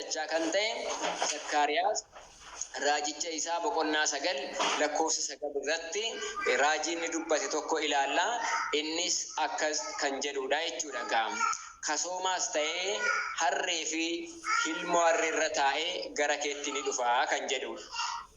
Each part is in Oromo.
dachaa kan ta'e Zakkaariyaas raajicha isaa boqonnaa 9 lakkoofsa 9 irratti raajii inni dubbate tokko ilaalla. Innis akkas kan jedhuudha jechuudha egaa. Kasoomaas ta'ee harree fi ilmoo harree irra taa'ee gara keetti ni dhufa kan jedhuudha.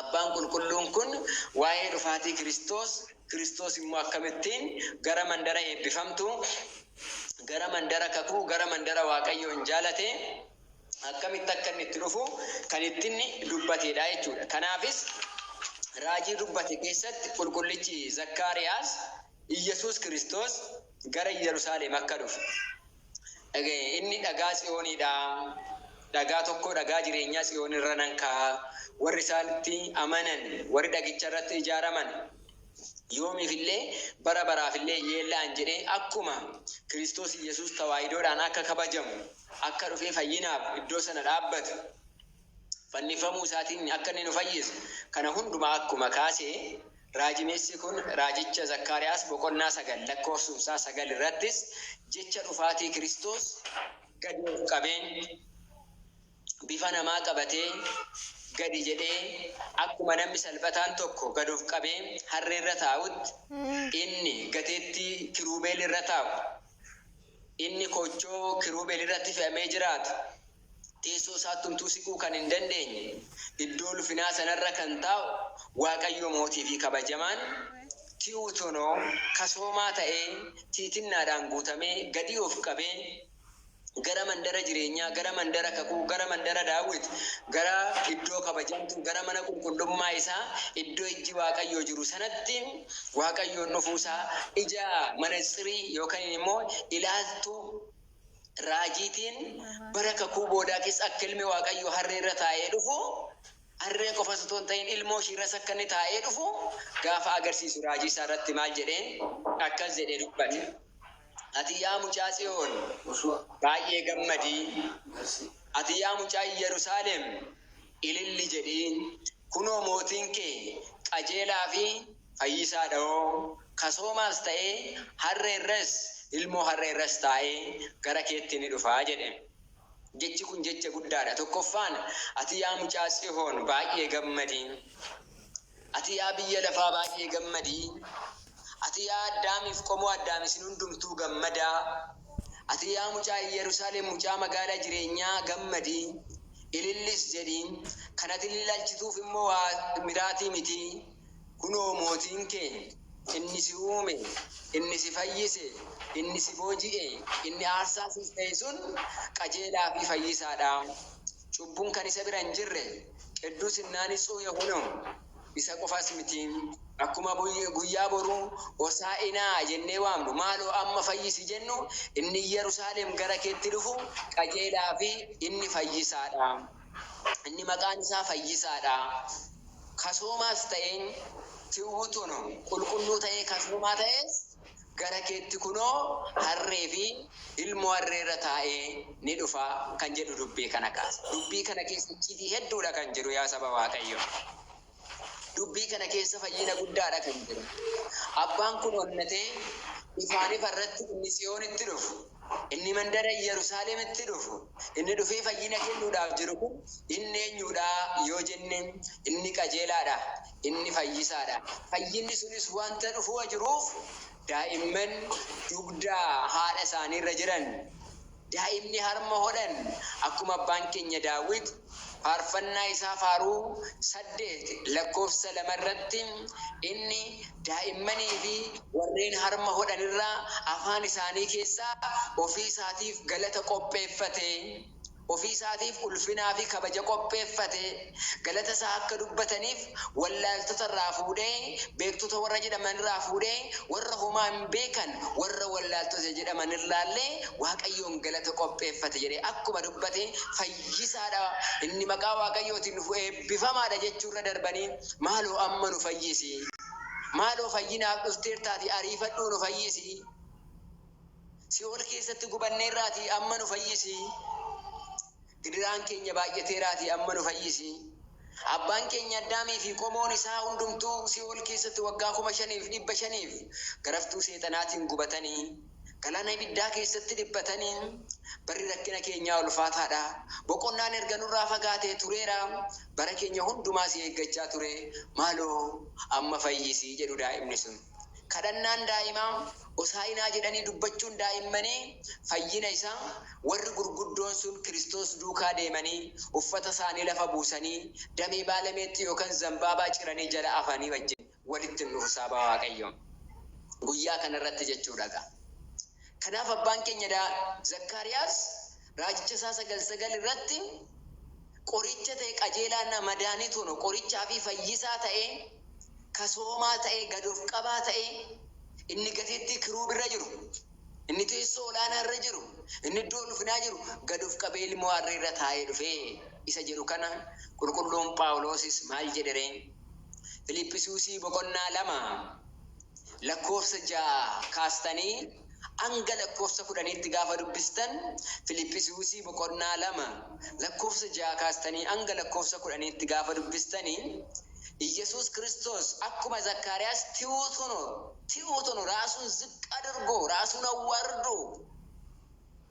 Abbaan Qulqulluun kun waa'ee dhufaatii Kiristoos, Kiristoos immoo akkamittiin gara mandara eebbifamtuu, gara mandara kakuu, gara mandara Waaqayyoon jaalate akkamitti akka inni itti dhufu kan itti inni dubbateedha jechuudha. Kanaafis raajii dubbate keessatti qulqullichi Zakkaariyaas Iyyasuus Kiristoos gara Iyyarusaaleem akka dhufe dhaga'e. Inni dhagaa Tsiyoonii dha, dhagaa tokkoo dhagaa jireenyaa Tsiyoon irra nan kaa'a, warri isaatti amanan, warri dhagicha irratti ijaaraman yoomiif illee, bara baraaf illee hin yeella'an jedhee akkuma Kiristoos Iyyasuus tawaahidoodhaan akka kabajamu akka dhufee fayyinaaf iddoo sana dhaabbatu, fannifamuu isaatiin akka inni nu fayyisu kana hundumaa akkuma kaase Raajimeessi kun raajicha Zakkaariyaas boqonnaa 9 lakkoofsumsaa 9 irrattis jecha dhufaatii Kiristoos gadi of qabeen, bifa namaa qabatee, gadi jedhee, akkuma namni salphataan tokko gad of qabee harree irra taa'utti, inni gateettii kiruubeel irra taa'u, inni koochoo kiruubeel irratti fe'amee jiraatu, Teessoo isaattumtuu siquu kan hin dandeenye, iddoo ulfinaa sana irra kan taa'u Waaqayyoo Mootii fi Kabajamaan, Ti'uutonoo, kasoomaa ta'ee, tiitinnaadhaan guutamee, gadii of qabee, gara mandara jireenyaa, gara mandara kakuu, gara mandara Daawit, gara iddoo kabajamtuu, gara mana qulqullummaa isaa, iddoo ijji Waaqayyoo jiru sanatti Waaqayyoon dhufuu isaa ija manatsirii yookanin immoo ilaaltuu raajiitiin bara kakuu boodaa keessa akka ilmi Waaqayyoo harree irra taa'ee dhufu, harree qofas utuu hin ta'in ilmoo ishii irras akka inni taa'ee dhufu gaafa agarsiisu raajii isaa irratti maal jedheen? Akkas jedhee dubbate, Ati yaa mucaa Tsiyoon baay'ee gammadi, ati yaa mucaa Iyyarusaaleem ililli jedhi, kunoo mootiin kee qajeelaa fi Fayyisaa Dhawoo, Kasoomaas ta'ee harree irras, ilmoo harree irras taa'ee gara keetti ni dhufa jedhe. Jechi kun jecha guddaa dha. Tokkoffaan, ati yaa mucaa Tsihoon baay'ee gammadi. Ati yaa biyya lafaa baay'ee gammadi. Ati yaa Addaamii fi qomoo Addaam isin hundumtuu gammadaa. Ati yaa mucaa Iyyarusaaleem mucaa magaalaa jireenyaa gammadi, ilillis jedhi. Kan ati ililaalchituuf immoo waa miraatii miti. Kunoo Mootiin keenya, inni si uume, inni si fayyise, inni si booji'e, inni aarsaa siif ta'e sun qajeelaa fi fayyisaa dha. Cubbuun kan isa bira hin jirre, qidduus innaa nitsuh yehune isa qofas miti. Akkuma guyyaa boruu Hosaa'inaa jennee waamnu, maaloo amma fayyisi jennu, inni Iyyarusaaleem gara keetti dhufu qajeelaa fi inni fayyisaa dha. Inni maqaan isaa fayyisaa dha. Kasoomaas ta'een tiwwutuun qulqulluu ta'ee kasoomaa ta'ees gara keetti kunoo harree fi ilmoo harree irra taa'ee ni dhufa kan jedhu dubbee kana kaasa. Dubbii kana keessa icciitii hedduu dha kan jiru yaa saba Waaqayyoo. Dubbii kana keessa fayyina guddaadha kan jiru. Abbaan kun onnatee ifaan ifa irratti inni Tsiyoonitti dhufu, inni mandara Iyyarusaaleemitti dhufu, inni dhufee fayyina kennuudhaaf jiru kun inni eenyuudha yoo jenne, inni qajeelaadha, inni fayyisaadha. Fayyinni sunis wanta dhufua jiruuf daa'imman dugda haadha isaanii irra jiran Daa'imni harma hodhan akkuma abbaan keenya Daawit faarfannaa isaa faaruu 8 lakkoofsa 2 irratti inni daa'immanii fi warreen harma hodhan irra afaan isaanii keessaa ofii isaatiif galata qopheeffate, ofii isaatiif ulfinaa fi kabaja qopheeffate. Galata isaa akka dubbataniif wallaaltota irraa fuudhee, beektota warra jedhaman irraa fuudhee, warra homaa hin beekan, warra wallaaltota jedhaman irraa illee Waaqayyoon galata qopheeffate jedhee akkuma dubbate fayyisaa dha, inni maqaa Waaqayyootiin dhufu eebbifamaa dha jechuu irra darbanii maaloo amma nu fayyisi, maaloo fayyinaaf dhufteertaatii ariifadhuu nu fayyisi, si'ool keessatti gubanneerraatii amma nu fayyisi. Gidiraan keenya baay'ateeraatii amma nu fayyisi. Abbaan keenya Addaamii fi qomoon isaa hundumtuu Si'ool keessatti waggaa 5,500f garaftuu Seexanaatiin gubatanii, galaana ibiddaa keessatti dhiphatanii, Barri rakkina keenyaa ulfaataa dha, boqonnaan erga nurraa fagaatee tureera, bara keenya hundumaa si eeggachaa ture, maaloo amma fayyisi jedhu daa'imni sun. Kadhannaan daa'imaa, Hosaa'inaa jedhanii dubbachuun daa'immanii fayyina isaa, warri gurguddoon sun Kiristoos duukaa deemanii uffata isaanii lafa buusanii damee baala meexxii yookaan zambaabaa ciranii jala afanii wajjin walitti hin dhufu saaba Waaqayyoo guyyaa kana irratti jechuudha egaa kanaaf abbaan keenya Zakkaariyaas Raajicha isaa 9 9 irratti qoricha ta'e qajeelaa na madaanii tono qorichaa fi fayyisaa ta'ee ka soomaa ta'ee gad of qabaa ta'ee inni gatiittii kiruub irra jiru inni teessoo olaanaa irra jiru inni iddoo ulfinaa jiru gad of qabee ilmoo harree irra taa'ee dhufe isa jedhu kana qulqulluun phaawuloosis maal jedhere Filiiphisiusii boqonnaa 2 lakkoofsa 6 kaastanii hanga lakkoofsa kudhaniitti gaafa dubbistan, Filiphisiusii boqonnaa 2 lakkoofsa 6 kaastanii hanga lakkoofsa kudhaniitti gaafa dubbistani, Iyyasuus Kiristoos akkuma Zakkaariyaas ti'uutono, ti'uutono, raasuun ziqqaadorgoo, raasuun awwaardoo,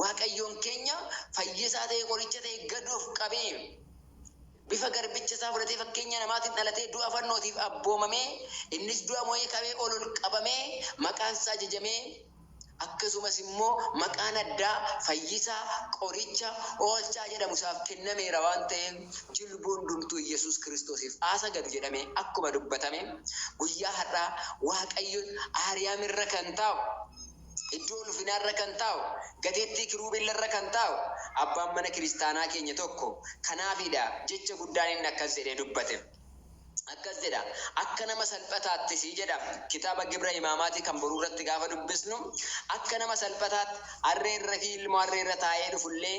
Waaqayyoon keenya fayyisaa ta'e, qoricha ta'e gad of qabee, bifa garbicha isaa fudhatee, fakkeenya namaatiin dhalatee, du'a fannootiif abboomamee, innis du'a mo'ee ka'ee ol ol qabamee, maqaan isaa jajamee, akkasumas immoo maqaan addaa fayyisaa, qoricha, oolchaa jedhamu isaaf kennameera waan ta'eef, jilbu hundumtuu Iyyasuus Kiristoosiif haa sagadu jedhamee akkuma dubbatame, guyyaa har'aa Waaqayyoon Aariyaam irra kan taa'u, Iddoo ulfinaa irra kan taa'u, gateettii kiruubiin irra kan taa'u, Abbaan Mana Kiristaanaa keenya tokko kanaafi dha jecha guddaan inni akkas jedhee dubbate. Akkas jedha, Akka nama salphataattis jedha, kitaaba Gibra Himaamaatii kan boruu irratti gaafa dubbisnu, akka nama salphataatti harree irra fi ilmoo harree irra taa'ee dhufu illee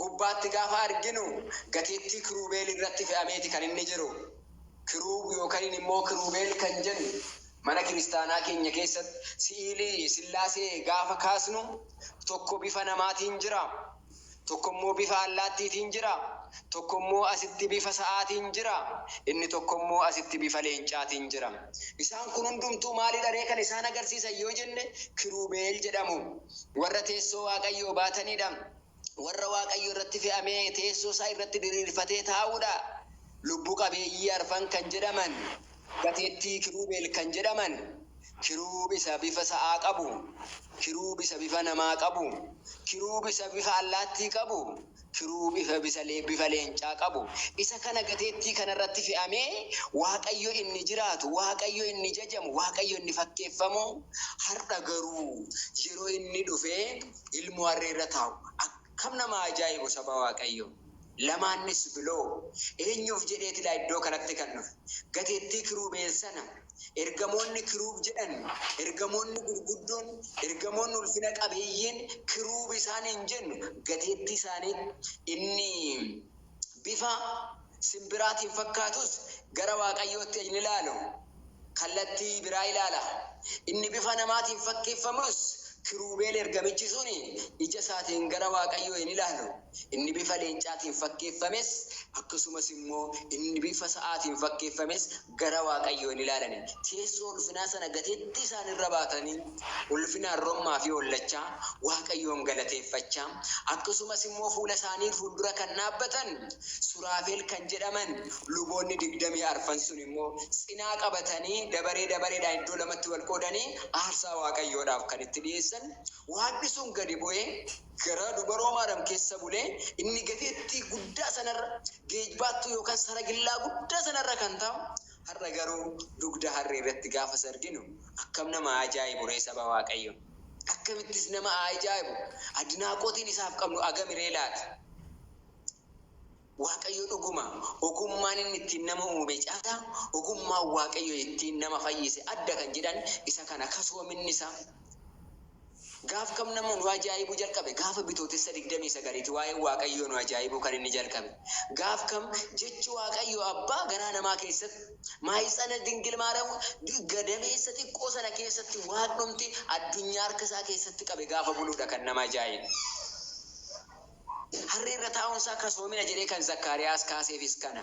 gubbaatti gaafa arginu gatiittii kiruubeel irratti fe'ameeti kan inni jiru. Kiruub yookaniin immoo kiruubeel kan jennu mana kiristaanaa keenya keessatti si'iilii Sillaasee gaafa kaasnu tokko bifa namaatiin jira, tokko immoo bifa allaattiitiin jira, tokko immoo asitti bifa sa'aatiin jira, inni tokko immoo asitti bifa leencaatiin jira. Isaan kun hundumtuu maalidha ree kan isaan agarsiisan yoo jenne kiruubeel jedhamu. Warra teessoo Waaqayyoo baatanidha. warra Waaqayyo irratti fe'amee teessoo isaa irratti diriirfatee taa'uu dha. Lubbu qabeeyyii arfan kan jedhaman, gateettii kiruubeel kan jedhaman, kiruub isa bifa sa'aa qabu, kiruub isa bifa namaa qabu, kiruub isa bifa allaattii qabu, kiruub ifa bisa le, bifa leencaa qabu, isa kana gateettii kana irratti fe'amee Waaqayyo inni jiraatu, Waaqayyo inni jajamu, Waaqayyo inni fakkeeffamu, har'a garuu yeroo inni dhufee, ilmoo harree irra taa'u akkam nama ajaa'ibu saba Waaqayyoo! Lamaannis biloo eenyuuf jedheeti laa iddoo kanatti kan dhufe? Gateettii kiruubeen sana ergamoonni kiruub jedhan ergamoonni gurguddoon ergamoonni ulfina qabeeyyiin kiruub isaan hin jennu gateettii isaanii inni bifa simbiraatiin fakkaatus gara Waaqayyootti ejni ilaalu kallattii biraa ilaala. Inni bifa namaatiin fakkeeffamus kiruubeel ergamichi sun ija isaatiin gara Waaqayyoo hin ilaalu. Inni bifa leencaatiin fakkeeffames akkasumas immoo inni bifa sa'aatiin fakkeeffames gara Waaqayyoo hin ilaalani, teessoo ulfinaa sana gateettii isaanii irra baatanii, ulfinaan rommaa fi hollachaa, Waaqayyoon galateeffachaa, akkasumas immoo fuula isaanii fuuldura kan dhaabbatan Suraafeel kan jedhaman luboonni digdamii arfan sun immoo cinaa qabatanii dabaree dabareedhaan iddoo lamatti wal qoodanii aarsaa Waaqayyoodhaaf kan itti dhi'eessan, Waaqni sun gadi bu'ee gara dubaroo Maariyaam keessa bulee, inni gateettii guddaa sana irra geejbaattuu yookaan saragillaa guddaa sana irra kan taa'u, har'a garuu dugda harree irratti gaafas arginu akkam nama haa ajaa'ibu ree saba Waaqayyoo! Akkamittis nama haa ajaa'ibu! Adnaaqotiin isaaf qabnu agami ree laata? Waaqayyo dhuguma ogummaan inni ittiin nama uume caalaa ogummaan Waaqayyo ittiin nama fayyise adda kan jedhan isa kana kasoominni isaa Gaaf kam nama nu ajaa'ibuu jalqabe? Gaafa Bitootessa 29 ti waa'een Waaqayyoo nu ajaa'ibuu kan inni jalqabe. Gaaf kam jechi Waaqayyoo Abbaa garaa namaa keessatti, maahitsana Dingil Maariyaam gadameessa xiqqoo sana keessatti Waaqnumti addunyaa harka isaa keessatti qabe gaafa buluu dha kan nama ajaa'ibu. Harree irra taa'uun isaa kasoomina jedhee kan Zakkaariyaas kaaseefis kana.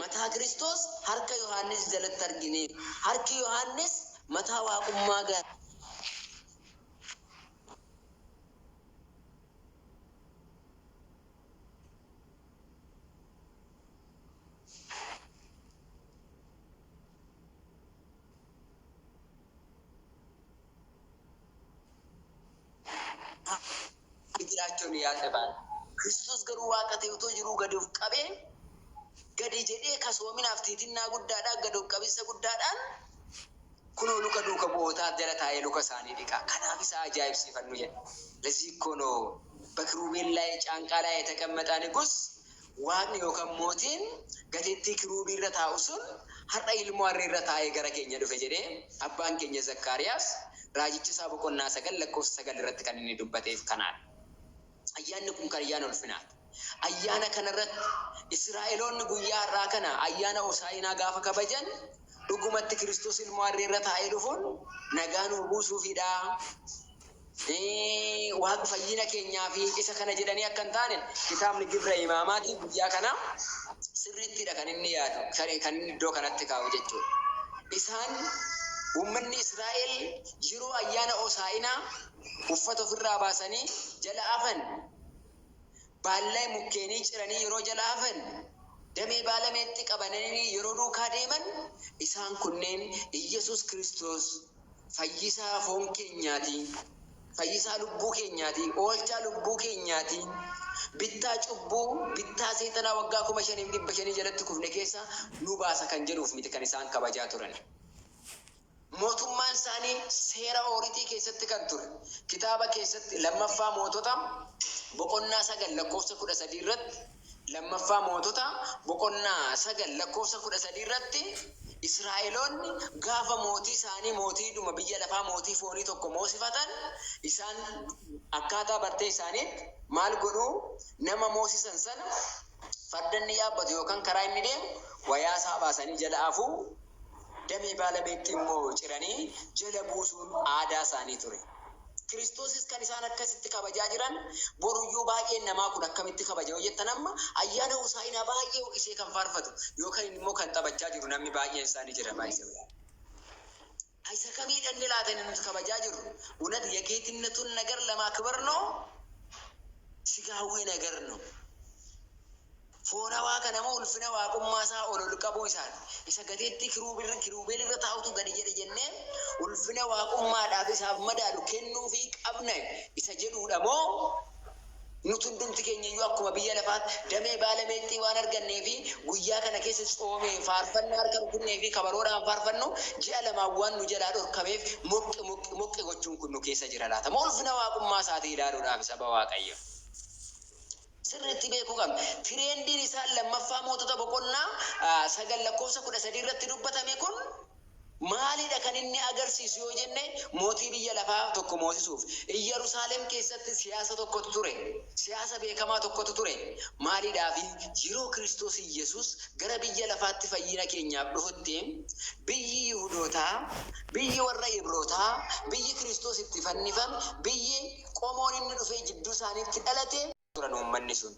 Mataa Kiristoos harka Yohaannis jalatti argine. Harki Yohaannis mataa Waaqummaa gara. Akka jiraachuun yaa xebaan. Kiristoos garuu Waaqa ta'ee utuu jiruu gadi of qabee, gadi jedhee kasoominaaf tiitinnaa guddaadhaan, gad of qabinsa guddaadhaan, kunoo luka duuka bu'ootaa jala taa'ee luka isaanii dhiqa. Kanaaf isa ajaa'ibsiifannu jedha. Lezii ikkoo noo, Bekiruubeen laay caanqaa laay yeteqemexaa Niguus, Waaqni yookaan mootiin gateettii kiruubii irra taa'u sun har'a ilmoo harree irra taa'ee gara keenya dhufe jedhee abbaan keenya Zakkaariyaas raajicha Isaa boqonnaa 9 lakkoofsa 9 irratti kan inni dubbateef kanaadha. Ayyaanni kun kan ayyaana ulfinaati. Ayyaana kana irratti Isiraa'eloonni guyyaa har'aa kana ayyaana Hosaa'inaa gaafa kabajan dhugumatti Kiristoos ilmoo harree irra taa'ee dhufuun nagaa nuuf buusuufidhaa? Waan fayyina keenyaaf isa kana jedhanii akka hin taane kitaabni Gibra Imaamaatii guyyaa kanaa sirriittidha kan inni yaadu, kan inni iddoo kanatti kaa'u jechuudha. Isaan uummanni Israa'el yeroo ayyaana Hosaa'inaa uffata ofirraa baasanii jala afan, baallay mukkeenii ciranii yeroo jala afan, damee baala meexxii qabananii yeroo duukaa deeman isaan kunneen Iyyasuus Kiristoos Fayyisaa foon keenyaati, Fayyisaa lubbuu keenyaati, Oolchaa lubbuu keenyaati, Bittaa cubbuu, bittaa seexanaa waggaa 5500 jalatti kufne keessaa nu baasa kan jedhuuf miti kan isaan kabajaa turani. Mootummaan isaanii seera ooritii keessatti kan ture. Kitaaba keessatti 2ffaa Mootota boqonnaa 9 lakkoofsa 13 irratti. 2ffaa Mootota boqonnaa 9 lakkoofsa 13 irratti Israa'eloonni gaafa mootii isaanii mootii dhuma biyya lafaa mootii foonii tokko moosifatan isaan akkaataa bartee isaaniitti maal godhuu nama moosisan sana farda inni yaabbatu yookaan karaa inni deemu wayaa isaa baasanii jala afuu damee baala meexxii immoo ciranii jala buusuun aadaa isaanii ture. Kiristoosis kan isaan akkasitti kabajaa jiran boruyyuu baay'een namaa kun akkamitti kabaja yoo jettan amma ayyaana Hosaa'inaa baay'ee ho'isee kan faarfatu yookan immoo kan taphachaa jiru namni baay'een isaa ni jira by the way. Isa kamii dhanne laata inni nuti kabajaa jirru? Unat yegeetinatul nagar lamaakbar no? Sigaawwii nagar no? Foonawaa kana moo ulfina Waaqummaa isaa ol ol qabuu isaati? Isa gateettii kiruubirra, kiruubeel irra taa'utu gadi jedhe jennee ulfina Waaqummaadhaaf isaaf madaalu kennuufii qabna isa jedhuu dha moo nuti hundumti keenya iyyuu akkuma biyya lafaatti damee baala meexxii waan argannee fi guyyaa kana keessa tsoomee faarfannaa harka rukunnee fi kabaroodhaan faarfannu ji'a lamaan waan nu jalaa dhorkameef moqqi moqqi moqqi gochuun kun nu keessa jira laata? Moo ulfina Waaqummaa isaatii ilaaluudhaafi saba Waaqayyoo? sirriitti beekuu qabna. Tireendiin isaan lammaffaa Mootota boqonnaa 9 lakkoofsa 13 irratti dubbatame kun maalidha kan inni agarsiisu yoo jenne mootii biyya lafaa tokko moosisuuf. Iyyarusaalem keessatti siyaasa tokkotu ture. Siyaasa beekamaa tokkotu ture. Maalidhaafi? Yeroo Kiristoos Iyyasuus gara biyya lafaatti fayyina keenyaaf dhufutti biyyi Yihudootaa, biyyi warra Ibrootaa, biyyi Kiristoos itti fannifame, biyyi. qomoon inni dhufee jidduu isaaniitti dhalate. turan uummanni sun.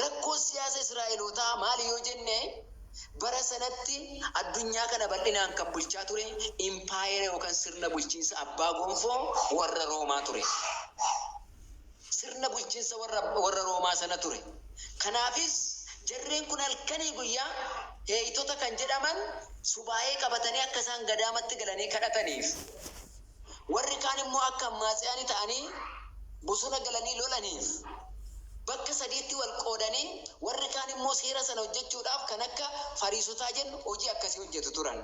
Rakkoon siyaasa Israa'elootaa maali yoo jenne, bara sanatti addunyaa kana bal'inaan kan bulchaa ture impaayera yookaan sirna bulchiinsa abbaa gonfoo warra Roomaa ture. Sirna bulchinsa warra warra Roomaa sana ture. Kanaafis jarreen kun halkanii guyyaa Heeyitota kan jedhaman subaa'ee qabatanii akka isaan gadaamatti galanii kadhataniif. Warri kaan immoo akka Ammaatseyaanii ta'anii bosona galanii lolaniif, bakka sadiitti wal qoodanii, warri kaan immoo seera sana hojjechuudhaaf kan akka Fariisotaa jennu hojii akkasii hojjetu turan.